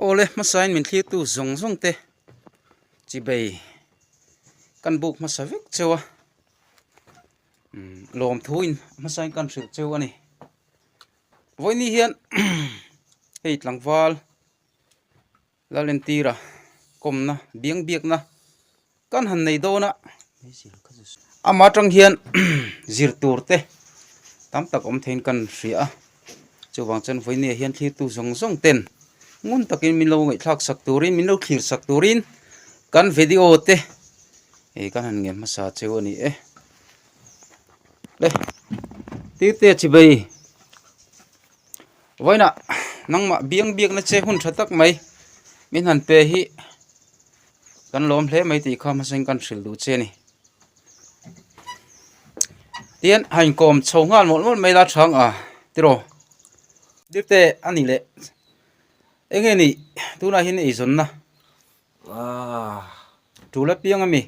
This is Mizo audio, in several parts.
Awle hmasain min thlirtu zawng zawng te chi bei kan buk hmasa vek cheu a, lawm thuin hmasain kan hrilh cheu a ni. Vawiin ni hian hei tlangval Lalentira kawmna biang biakna kan han nei dawn a, ama atang hian zir tur te tam tak awm theiin kan hria a, chuvang chuan vawinia hian thlirtu zawng zawng ten ngun takin min lo ngaihthlak sak turin min lo thlir sak turin kan video te ih kan han ngen hmasa cheu a ni e. Tute chibei. Vawiinah nangmah biang biakna che hun tha tak mai min han pe hi kan lawm hle mai tih kha hmasain kan hrilh duh che a ni. Tian a inkawm chho nghal mawlh mawlh mai la chhang a tiraw. Dirte a ni leh eng nge nih tunah hian ei zawnna tula piang a mi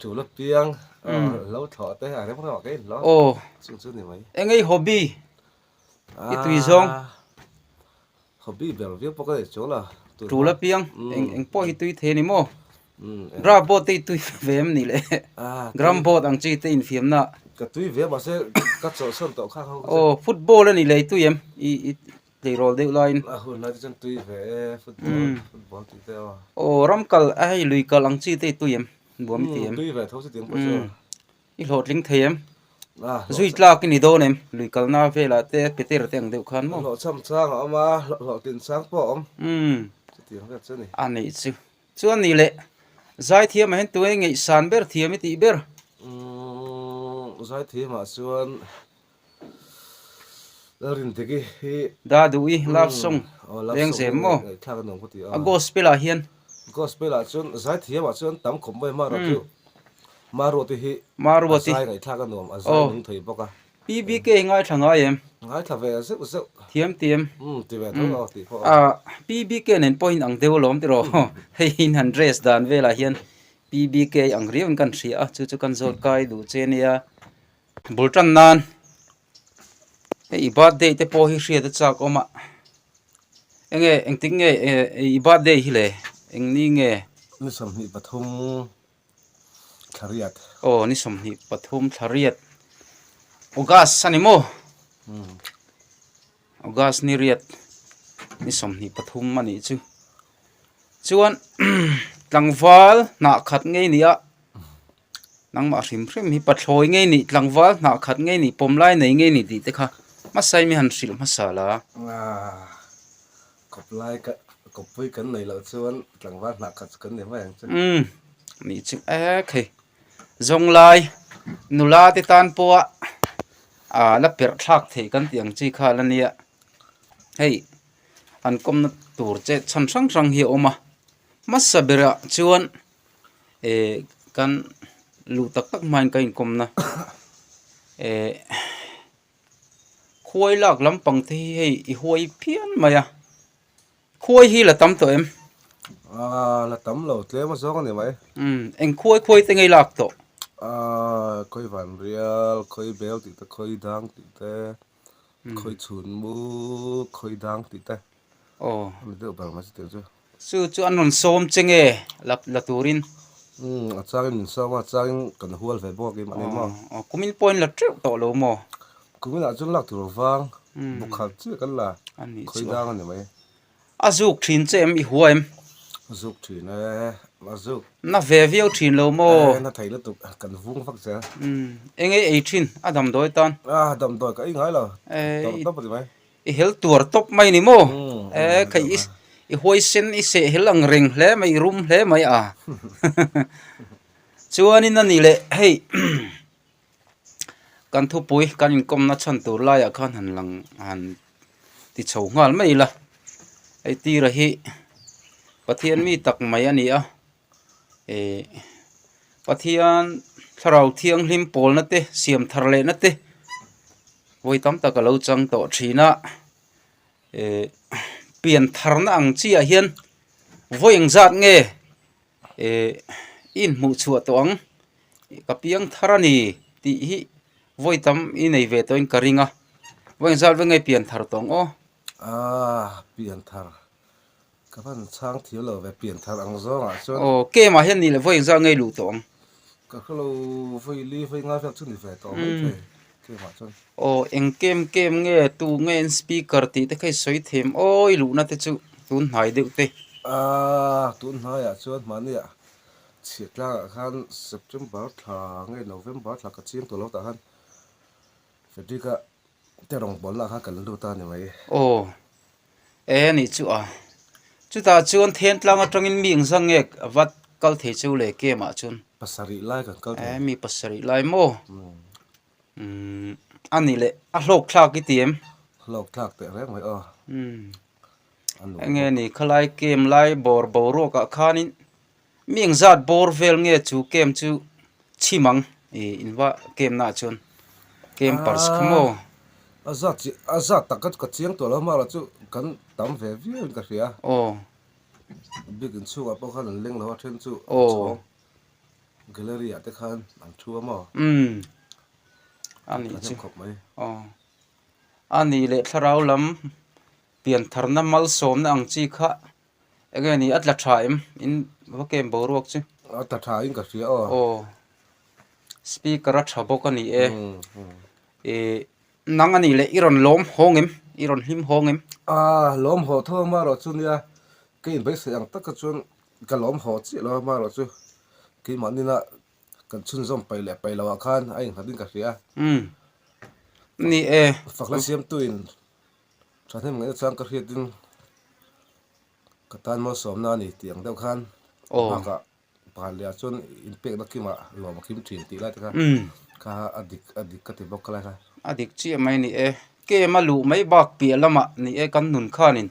tula piang lo thlawh te a reng rawh a keng hlawm eng nge hobby. I tui zawng. Hobby ber viau pawh ka nei chuang la. Tul apiang eng pawh hi tui thei ani maw? Drum board te i tui ve em ni le? Drum board ang chu i te infiam na. Ka tui ve mahse ka chawhsawn tawh khang ho ka che. Aw football ani le i tui em? I tleirawl deuh laiin. A hun hlai te chuan tui ve e football tih te aw. Aw ram kal a hei lui kal ang chi te i tui em? Buam i ti em? Tui ve tho si ti ang pawh chu. I hlawhtling thei em? Zui tlak i ni dawn em? Lui kalna velah te Peter te ang deuh khan maw? Hlawhchham chang a awm a, hlawhtlin chang pawh a awm. Umm. Chutiang vel chu a ni. A nih chu. Chuan ni leh, Zaithiam ah hian tunge ngeihsan ber thiam i tih ber? Umm, Zaithiam ah chuan Dah duh i, love song leng zem maw? A gospel ah hian. Ma ruati hi aww. PBK hi ngaithla ngai em? Thiam ti em? PBK nen pawhin ang deuh alawm tih rawh. Hei hi han dress dan velah hian PBK ang riau in ka han hria a, chu chu kan zawt kai duh che nia. Bul tan nan i birthday te pawh hi hriat a chak awm a enge engtik nge i birthday hi le eng ni nge ni sawmhnih pathum thlariat oh ni sawmhnih pathum thlariat August ani maw hmm. August ni riat ni sawmhnih pathum ani chu chuan tlangval hnah khat ngei ni a nangmah a hrim hrim hi pathlawi ngei ni tlangval hnah khat ngei ni pawm lai nei ngei ni tih te kha hmasa emaw han hrilh hmasa la kawp lai ka kawpui kan nei loh chuan tlangval hnah khat chu kan ni mai ang chu umm ni chu ek hi zawng lai nula te tan pawha ah la perh thlak theih kan tih ang chi kha la nia hei an kawmna tur che chhan hrang hrang hi a awm a hmasa berah chuan-- eh kan luh tak tak hmain ka inkawm na eh khuai lak lam pang te hi hei i huai phian mai a khuai hi la tam tawh em ah la tam lo tle maw zawng ani mai um eng khuai khuai te ngei lak tawh ah khawi van rial khawi bel tih te khawi dang tih te khawi chhun mu khawi dang tih te aw ani deuh ber mai chu tih chu Chu chu an rawn sawm che nge la la turin. Umm a changin min sawm a changin kan hual ve bawk i mah ni maw. Aww kumin point la teuh tawh lo maw. Kumin ah chuan lak tur vang buk khar chiah kan la khawi dang a ni mai. A zuk thin che em i hua em. A zuk thin e a zuk. Na ve viau thin lo maw. Ehh na thei lutuk kan vung vak che. Umm enge ei thin a damdawi tan. Ahh damdawi ka ei ngai lo tawrh tawp a ni mai. I hel tuar tawp mai ni maw? E, kei i, i huaisen i sehel ang reng hle mai, i rum hle mai a. Chuanin a ni le, hei, kan thupui, kan inkawmna chhan tur laiah khan han lang, han ti chho nghal mai ila. Hei tira hi Pathian mi tak mai a ni a. eh Pathian thlarau thianghlim pawlna te siam thar lehna te vawi tam tak a lo chang tawh thin a, eh pian tharna ang chiah hian vawi eng zat nge eh i inhmuh chhuah tawh ang ka piang thar a ni tih hi vawi tam i nei ve tawhin ka ring a, vawi eng zat ve nge pian thar tawh ang aw. Aaa pian thar Ka hman chhang thir lo ve pian thar ang zawng ah chuan. Aw kema hian nih leh vawi engzah ngei luh tawh ang. Ka hre lo vawi li vawi nga vel chu ni ve tawh mai thei kema chuan. Aw eng kem kem nge tu nge in speaker tih te kha i sawi thei em awi luh na te chu tun hnai deuh te. Aaa tun hnai ah chuan mahni ah chhiat tlang ah khan September thla nge November thla ka chiang tawh lo tah khan Fredrick a te rawng pawlna kha kan la lut a ni mai. Aw. Ee anih chu a. Chutah chuan thentlang atangin mi engzang nge a vat kal thei chu le kem ah chuan. Pasarih lai kan kal thei. Ee mi pasarih lai maw? Umm a ni leh a hlawk thlak i ti em? Hlawk thlak teh reng mai aw. Umm. Enge ni khalai kem lai bawr boruak ah khanin Mi eng zat bawr vel nge chu camp chu chhim ang i inva camp na chuan campers kha maw. A zat tak ka chiang tawh lo mahla chu kan tam ve viau in ka hria a, bik inchhung ah pawh khan an leng lo a then chu a chhawng gallery ah te khan an thu a maw a ni chu a nih leh thlarau lam pianthar na malsawm na ang chi kha. Enge ni a tla tha em in va kem boruak chu. A tla tha in ka hria aw. Aw speaker a tha bawk a ni e. Ih nang anih leh i rawn lawm hawng em i rawn hlim hawng em. Aah lawm haw tho amarawh chu nia ka inbeihsaih ang taka chuan ka lawm haw chiah lo amarawh chu keimah nina kan chhunzawm pai leh pai loh ah khan a innghat in ka hria. Umm ni e. Fakna siamtuin Thahnem ngaihna chuan ka hriatin ka tan mawlsawmna a ni tih ang deuh khan ka nghakah pakhat lehah chuan in pekna kimah lawm a kim thin tih lai te kha kha a dik a dik ka ti bawk ka lai kha. A dik chiah mai ni e, kem a luh mai bak piah lamah ni e kan nun khanin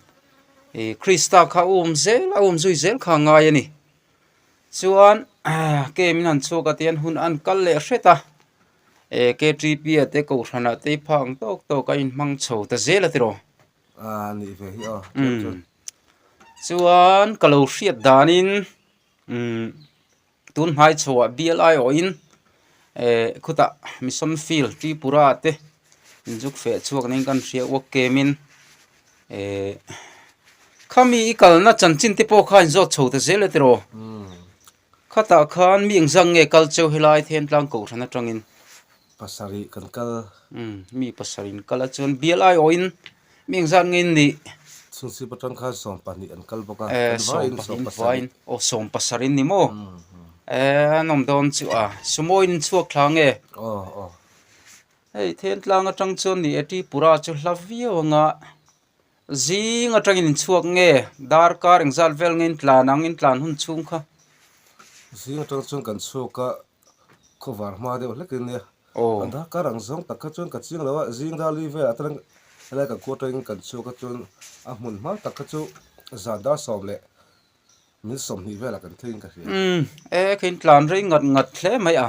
ih Krista kha a um zel a um zui zel kha a ngai a ni. Chuan kem in han chhuak atian hun a an kal leh hret a. E KTP-a te Kohhranah te i phah ang tawk tawk a, inhmang chho ta zel a ti rawh. A nih ve hi aw. Umm. Chuan ka lo hriat danin umm tun hmai chhoah bialai awhin e khutah mission field Tripura te inzuk feh chhuak nen kan hria uak kemin e khami i kalna chanchin te pawh kha in zawt chho ta zel a ti rawh. Khatah khan mi engzang nge kal cheu helai then tlang kohhran atangin. Pasarih kan kal. Um, mi pasarih an kal a chuan bialaiawhin mi engzan nge in nih? Chhingsip atang khan sawm pahnih an kal bawk a. Eh, sawm pahnihin vain. Aw, sawm pasarih ni maw? Eh, an awm dawn chu a. Sumoin in chhuak thla nge? Aw, aw. Hei, then tlang atang chuan ni e, Tripura chu hla viau anga. Zing atangin in chhuak nge? Darkar engzat vel nge in tlan ang? In tlan hun chhung kha. Zing atang chuan kan chhuk a, khawvar hma deuh hlekin nia. Aw. A darkar ang zawng tak kha chuan ka chiang lo a, zing rali velah atangin helai kan kuat atangin kan chhuk a chuan a hmun hma tak kha chu zan dar sawm leh min sawmhnih velah kan theihin ka hria. Umm, e kha in tlan rei ngat ngat hle mai a.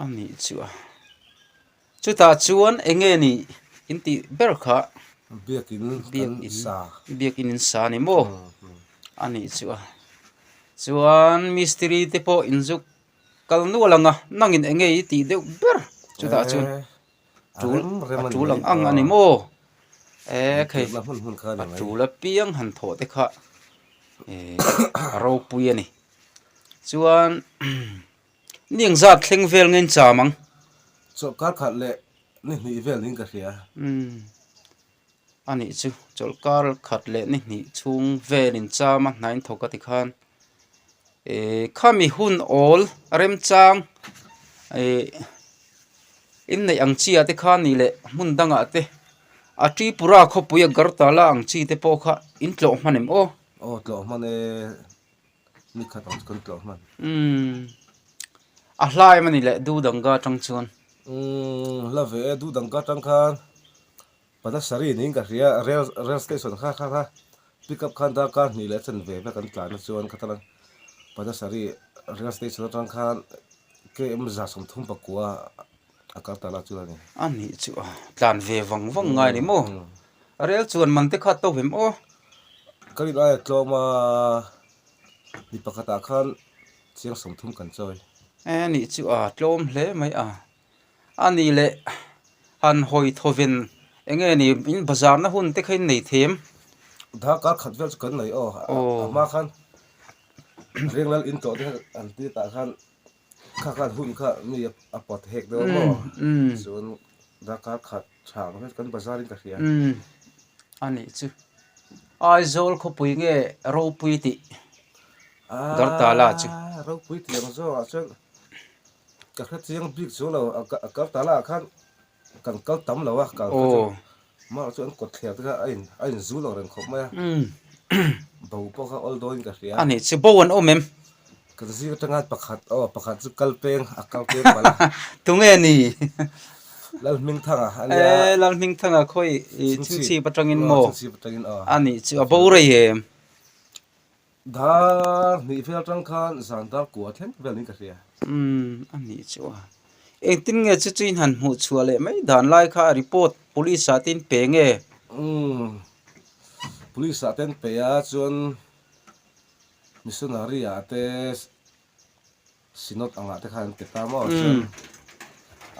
a nih chuah chutah chuan eng nge ni in tih ber kha biakin biakin in sa ni maw a nih chuah chuan mistiri te pawh in zuk kal nual ang a nangin eng nge i tih deuh ber chutah chuan. Tul a tul ang ang a ni maw? Ehh khei a tul apiang han thawh te kha ehh a ropui a ni chuan ni ang zat thleng vel ngei cham ang. Chawlhkarkhat leh nihnih vel niin ka hria. a nih chu chawlh kar khat leh ni hnih chhung vel in cham a hnain thawk a ti khan eh khami hun awl a remchang eh inneih ang chi ah te khan nih leh hmun dang ah te a tripura khawpui agartala ang chi te pawh kha in tlawh hman em aw. A hla em a ni leh Du Danga tang chuan. Umm hla ve e Du Danga tang khan Panasari niin ka hria rail station kha kha pick up khan dar kar hnih leh chen ve vek an tlan a chuan ka tala Panasari rail station atang khan KM za sawm thum pakua. a kal ta la chu a ni. A nih chu a tlan ve vang vang ngai ni maw? A rel chu an man te khat tawh hlim aw. Ka rit aia tlawm a, mi pakhat ah khan chiang sawm thum kan chawi. A nih chu a tlawm hle mai a. A ni le, han hawi thaw ven eng nge ni in bazar na hun te kha in nei them. Dar kal khat vel chu kan nei aw, a hma khan Ringlal in tlawh te an ti ta khan. Kha khan hun kha mi a pawt hek deuh a maw? Chuan darkar khat chhang vek kan bazar in ka hria. A nih chu. Aizawl khawpui nge ropui tih Garta la chu. Aa, ropui tiang zawk ah chuan ka hre chiang bik chu lo. Garta la ah khan. Kan kal tam lo a, kal kha chu Mark chu an kawt thliar tir a, a in zu lo reng khawp mai a, bo pawh kha awldawi in ka hria a. Ani chu bo an awm em? Kan zir atangan pakhat, aw pakhat chu kal peng a kal peng palh a. Tunge ni? Lalhmingthang a a nia. E, Lalhmingthang a khawi i Chhingchhip atangin maw? Chhingchhip atangin aw. Ani chu a bo rei em? Dar hnih fel tang khan zan dar kua thleng vel in ka hria. Umm, a nih chu a. Engtin nge chu chu in han hmuh chhuah leh mai dan lai kha a report police ah te in pe nge? Umm, police ah te in pe a, chuan missionary ah te synod ang ah te khan an pe ta maw chuan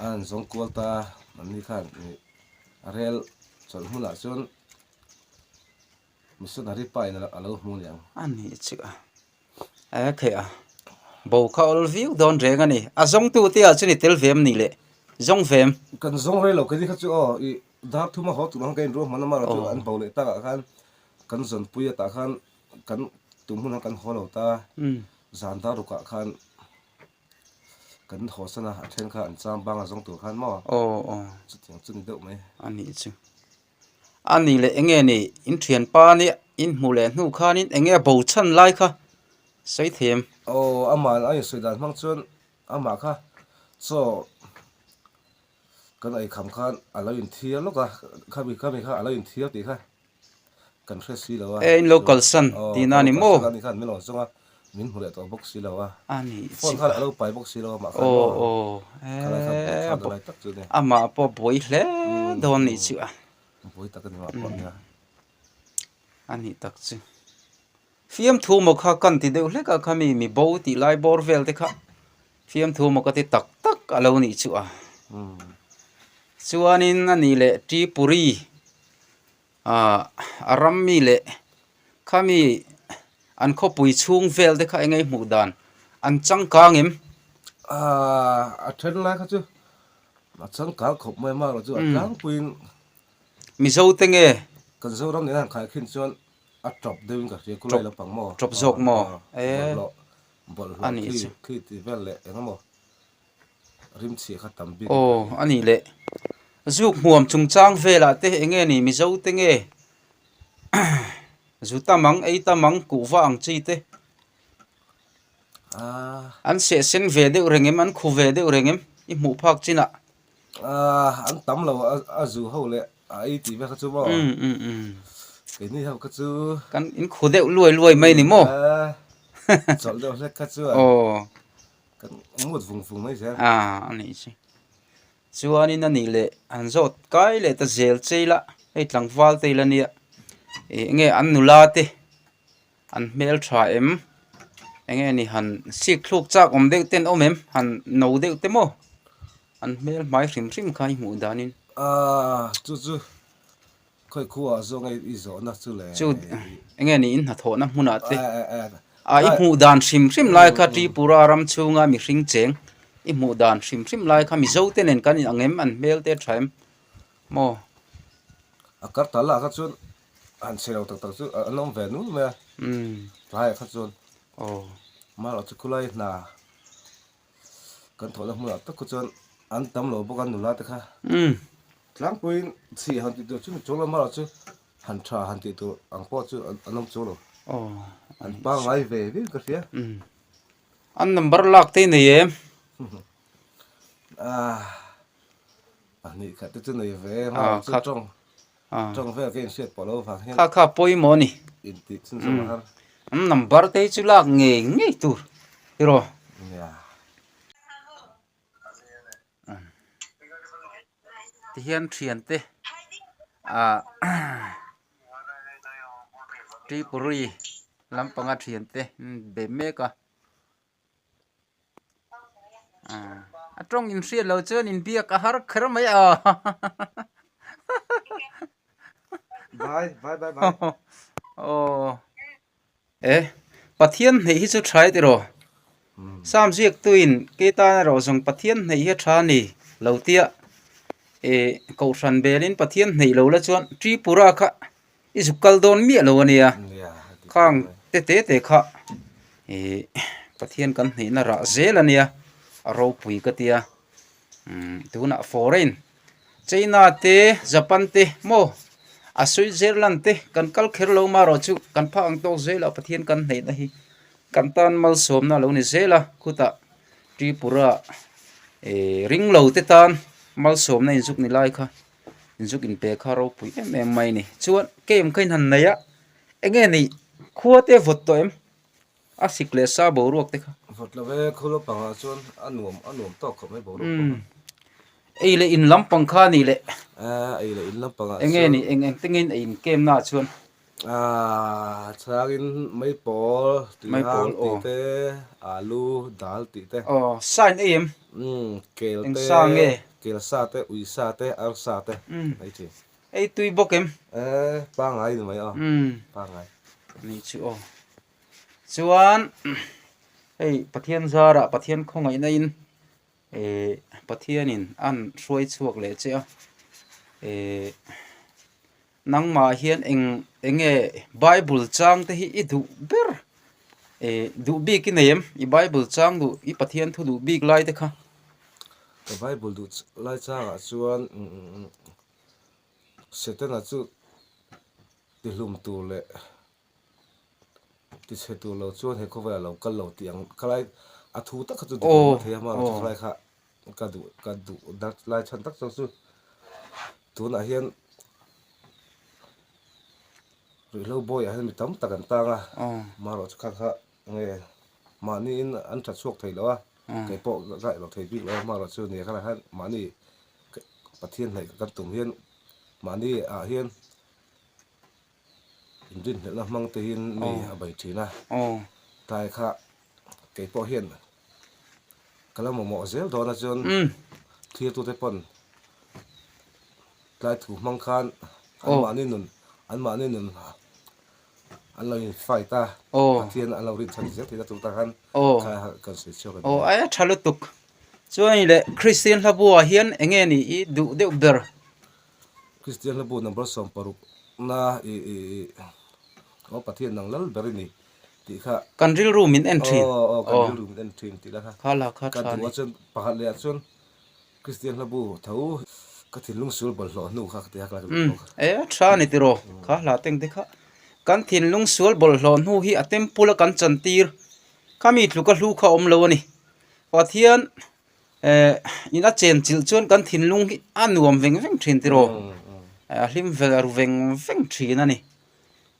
a han zawng kual ta a, an ni khan rel chawlh hmun ah chuan, Misun hari pa in a lo hmu niang. A nih chiah a. Aa theih a. Bo kha a awl viau dawn reng a ni. A zawng tu te ah chu ni tel vem ni le. Zawng vem. Kan zawng reng lo keni kha chu aw i dar thuma haw tur ang ka inruah hman a mah chu an bo leh tak ah khan kan zawn pui a tah khan kan tum hun ah kan haw lo ta zan dar ruk ah khan kan haw san a a then kha an chang bang a zawng tur khan maw a chutiang chu ni deuh mai. A nih chu. A nih leh enge ni? Inthianpa nia inhmu leh hnu khanin enge a bo chhan lai kha sawi theiam. Aw, ama'n a insawi dan hmang chuan amah kha chaw kan eikham khan a lo inthiar lawk a, khami khami kha a lo inthiar tih kha kan hre si lo a. E, in lo kalsan tihna a ni maw? Aw, kalsan a ni kha an mil awm zawng a. Min hmu leh tawh bawk si lo a. A ni chi. Phone khan a lo pai bawk si lo a mah khan maw. Aww a mah pawh buai hle dawn ni chu a. Buai tak a ni mah pawh nia. A ni tak chu. Fiamthu maw kha kan ti deuh hlek a kha mi mi bo tih lai bawr vel te kha fiamthu maw ka ti tak tak a lo nih chu a. Chuan in a nih leh Tripuri. a ram mi leh khami an khawpui chhung vel te kha eng hmuh dan an changkang em? A then lai kha chu a changkang khawp mai mak lo chu a tlangpuiin Mizo te nge? Kan Zoram nen a han khai khin chuan a tawp deuhin ka hria khulai lampang maw? Tawp zawk maw? Bawlhhlawh, bawlhhlawh khi tihvel leh engemaw Aw a nih leh zuk hmuam chungchang velah te eng nge ni mizo te nge zu tam ang ei tam ang kuh va ang chi te an sehsen ve deuh reng em an khu ve deuh reng em i hmuh phak chin ah an tam lo a zu ho leh a ei tih vek kha chu maw keini ho kha chu kan in khu deuh luai luai mai ni maw chawlh deuh hlek kha chuan aw. kan mut vung vung mai zel a a nih chu chuanin a nih leh han zawt kai leh ta zel chei la hei tlangval te ila nia ih enge an nula te an hmel tha em enge ni han sik thluk chak awm deuh ten awm em han no deuh te maw an hmel hmai hrim hrim kha i hmuh dan in ahh chu chu. Khawi khuaa zawnga i zawhna chu le. Chu enge ni in hnathawhna hmunah te ah i hmuh dan hrim hrim lai kha Tripura ram chhunga mi hring cheng i hmuh dan hrim hrim lai kha Mizo te nen kan in ang em an hmel te tha em maw? Agartala kha chuan han chhe lo tak tak chu an awm ve nual mai a, tlai ah kha chuan mal a chu khulai hna. Kan thawhna hmunah tak khaw chuan an tam lo bawk a nula te kha. Tlangpuiin chhih han tih tur chu ni chuang lo, mahla chu han tha han tih tur ang pawh chu an awm chuang lo. An pangngai ve viau ka hria. An number lak teh nei em? A nih kha te chu nei ve em? Chu tawng. kha kha pawimawh a ni an number te hi chu lak ngei ngei tur erawh tihian thian te ah tripuri lampanga thian te an be mek a. a tawng in hriat lo chuan in biak a har kher mai a e pathian hneih hi chu thai tih rawh sam ziaktu in kei tan erawh zawng pathian hneih hi a tha a ni lo tia e kohhran belin pathian hneih lo la chuan tripura kha I zuk kal dawn miah lo ania, khang te te te kha ih Pathian kan hnihna rah zel ania a ropui ka tia umm tunah foreign China te Japan te maw a Switzerland te kan kal kher lo mah erawh chu kan phak ang tawk zel a Pathian kan hnihna hi kan tan malsawmna lo ni zel a khutah Tripura ih ringlo te tan malsawmna inzuk ni lai kha. zuk in pe kha ropui em em mai ni chuan kem kha in han nei a enge ni khua te vawt tawh em a sik leh sa boruak te kha vawt lo ve khawl a pangah chuan a nuam a nuam tawk khawp mai boruak pawh kha ei leh in lam pang kha a nih leh a ei leh in lam pangah chuan enge ni eng eng tengin a in kem na ah chuan Aaa chhangin mai pawl tui mai pawl ang tih te alu dal tih te aw sa in ei em umm kel te sa nge kel sa te ui sa te ar sa te umm mai thin ei tui bawk em ee pangai in mai aw umm pangai nei chu aw chuan hei pathian zara pathian khawngaihna in. E, Pathianin a'n hruai chhuak leh che a. E, Nangmah hian eng eng nge Bible chang te hi i duh ber? E, duh bik i nei em? I Bible chang duh, i Pathian thu duh bik lai te kha? Ka Bible duh lai changah chuan Setana chu tihlum tur leh. tichhe tur lo chuan he khawvaiah lo kal lo tih ang ka lai a thu tak kha chu dik lo mathei a hma loh chu khalai kha ka duh ka duh dat lai chhan tak chang chu tunah hian ruihhlo bawiah hian mi tam tak an tang a hma loh chu kha kha nge mahniin an tha chhuak thei loh a kei pawh ka ngaih lo thei bik lo a hma loh chu nia kha lah hian mahni pathian hnaih kan tum hian mahni ah hian. Inrinhlelhna hmang te hian mi a bei thin a, tlai kha kei pawh hian ka lo mamawh zel dawn a chuan thlir tute pawn tlai thu hmang khan anmahni nun anmahni nun an lo in fight a, Pathian a lo rin chhan zel thin a chuta khan kha kan sawi chhuak a ni. Aw ai a tha lutuk, chuan i leh Kristian hla buaah hian eng nge ni i duh deuh ber. Kristian hla bu number sawm paruk na i i i aw Pathian nang lal ber i ni tih kha. Kan rilru min en thin. Aw aw kan rilru min en thin tih la kha. Kha la kha tha ni. Ka duhah chuan pakhat leh ah chuan Kristian hla bu tho ka thinlung sur bawlhhlawh hnu kha ka ti a ka la rilru bawk a. Ae tha ni tiraw kha hla teng te kha. Kan thinlung sual bawlhhlawh hnu hi a temple a kan chantir kha mi tlu ka hlu kha awm lo a ni. Pathian Eh, ina chen chilh chuan kan thinlung hi a nuam veng veng thin tiraw, a hlim velar veng veng thin a ni.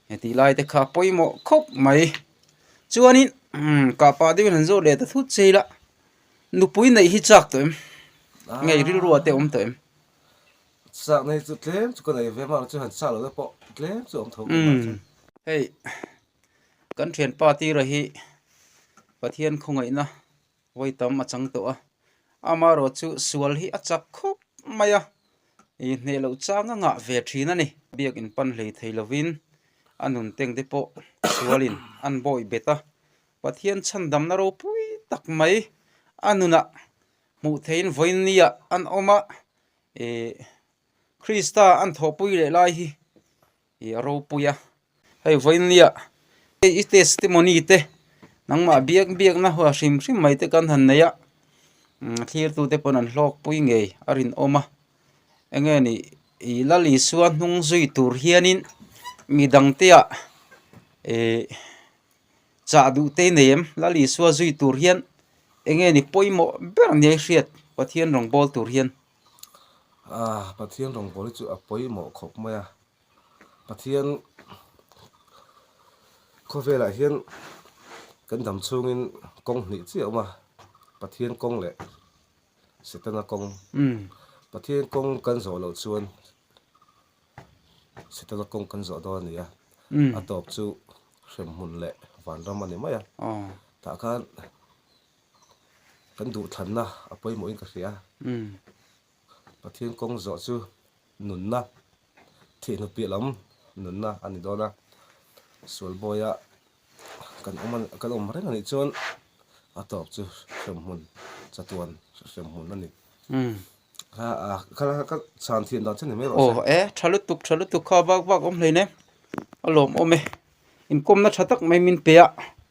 Heti lai te kha pawimawh khawp mai. Chuanin, umm, kahpah deuhin han zawh leh ta thut che ila, nupui neih hi chak tawh em? Ngei rilrua te awm tawh em? Chak neih chu tlem chu ka nei ve mah chu han chak loh te pawh tlem chu a awm tho ve mah chuan. Hei, kan thianpa tira hi Pathian khawngaihna. Vawi tam a chang tawh a, amarawh chu sual hi a chak khawp mai a, ih hneh loh changa ngah ve thin a ni. Biak in pan hlei thei lovin a nun teng te pawh sualin an bawi bet a, Pathian chhandamna ropui tak mai a nunah hmuh theihin vawiin niah an awm a, ih Krista an thawhpui leh lai hi. I ropui a, hei vawinia hei i testimony te nangmah biak biakna hua hrim hrim mai te kan han nei a, a thlirtute pawh an hlawkpui ngei a rinawm a, enge ni i Lal Isua hnung zui tur hianin mi dangteah ihh chah duhte i nei em? Lal Isua zui tur hian enge ni pawimawh ber nia i hriat Pathian rawngbâwl tur hian? Aah Pathian rawngbawl hi chu a pawimawh khawp mai a, Pathian khawvelah hian kan dam chhungin kawng hnih chiah a awm a, Pathian kawng leh Setana kawng, Pathian kawng kan zawh loh chuan Setana kawng kan zawh dawn a ni a, a tawp chu hremhmun leh vanram a ni mai a, tah khan. Kan duhthlanna a pawimawhin ka hria. Pathian kawng zawh chu nunna, thihnu piah lam nunna a ni dawn a. Sual bawiah kan awm a, kan awm reng a nih chuan a tawp chu hremhmun chatuan hremhmun a ni. Ka chhan thian dan che ni mai rawh se. E, tha lutuk, tha lutuk kha vak vak awm hlein e. A lawmawm e. Inkawmna tha tak mai min pe a.